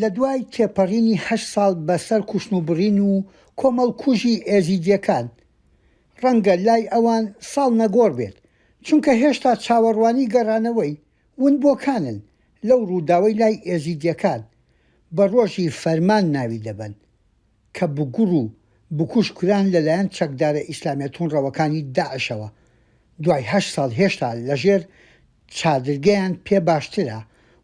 لە دوای تێپەڕینی هەشت ساڵ بە سەر کوشتن و بڕین و کۆمەڵکوژی ئێزیدییەکان، ڕەنگە لای ئەوان ساڵ نەگۆڕ بێت، چونکە هێشتا چاوەڕوانی گەڕانەوەی ونبووەکانن لەو ڕووداوەی لای ئێزیدییەکان بە ڕۆژی فەرمان ناوی دەبەن. کە بگوڕ و بکوژ کران لەلایەن چەکدارە ئیسلامیە توندڕەوەکانی داعشەوە دوای هەشت ساڵ هێشتا لەژێر چادرگەیان پێ باشترە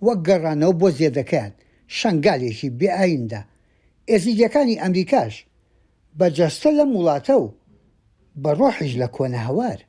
وەک گەڕانەوە بۆ زێدەکەیان شەنگالێکی بێ ئایندە ئێزیدیەکانی ئەمریکاش بە جەستە لەم وڵاتە و بە ڕۆحیش لە کۆنە هەوار.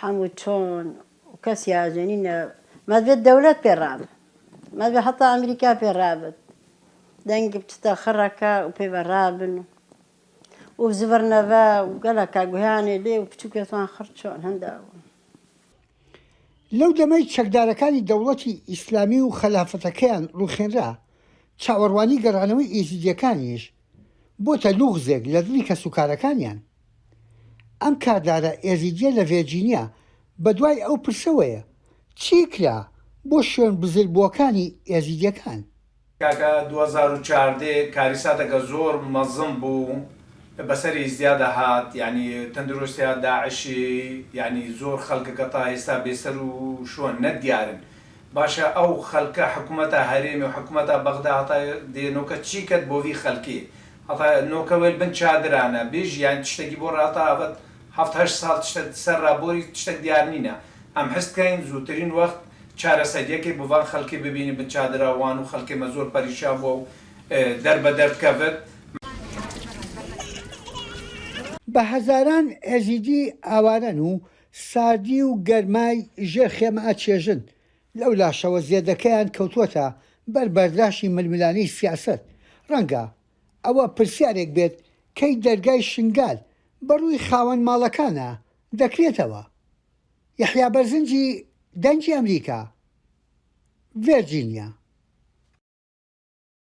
حەموو چۆن کەس یاجەنی نە مەزبێت دەولەت پێ ڕاب مەزبێ حەتا ئەمریکا پێ ڕابت دەنگ بچتە خڕەکە و پێ بە ڕابن و و زبر نەڤە و گەلەکە گویانێ لێ و پچووکێتوان خڕ چۆن هەندا بوو لەو دەمەی چەکدارەکانی دەوڵەتی ئیسلامی و خەلافەتەکەیان ڕووخێنرا چاوەڕوانی گەڕانەوەی ئێزیدییەکانیش بۆتە لوغزێک لە دڵی کەسوکارەکانیان، ئەم کاردارە ئێزیدیە لە ڤێرجینیا بە دوای ئەو پرسەوەیە، چی کرا بۆ شوێن بزر بووەکانی ئێزیدیەکان؟ کاکە دوو هەزار و چواردە کاریساتەکە زۆر مەزن بوو بەسەر ئیزدیا دەهات یانی تەندرۆستیا داعشی یانی زۆر خەلکەکە تا ئیستا بێ سەر و شۆن نە دیارن باشە ئەو خەلکە حکومەتا هەرێمی و حکومەتا بەغدا هەتا دێنۆکە چی کەت بۆ ڤی خەلکێ ئەڤە نۆکە وێل بن چادرانە بێژ یان تشتەکی بۆ ڕاڵتە ئەڤە هەفت هەشت ساڵ تشتە سەر ڕا بۆری تشتەک دیار نینە ئەم حست کەین زووترین وەخت چارەسەریەکێ بڤان خەلکێ ببینی بن چادرا وان و خەلکێ مە زۆر پەریشان بوە و دەر بە دەرد کەفت. بە هەزاران ئێزیدی ئاوارەن و ساردی و گەرمای ژێر خێمە ئەچێژن لەولاشەوە زێدەکەیان کەوتووەتە بەر بەرداشی ململانێی سیاسەت، ڕەنگە ئەوە پرسیارێک بێت کەی دەرگای شنگال بە ڕووی خاوەن ماڵەکانە دەکرێتەوە؟ یەحیا بەرزنجی دەنگی ئەمریکا، ڤێرجینیا.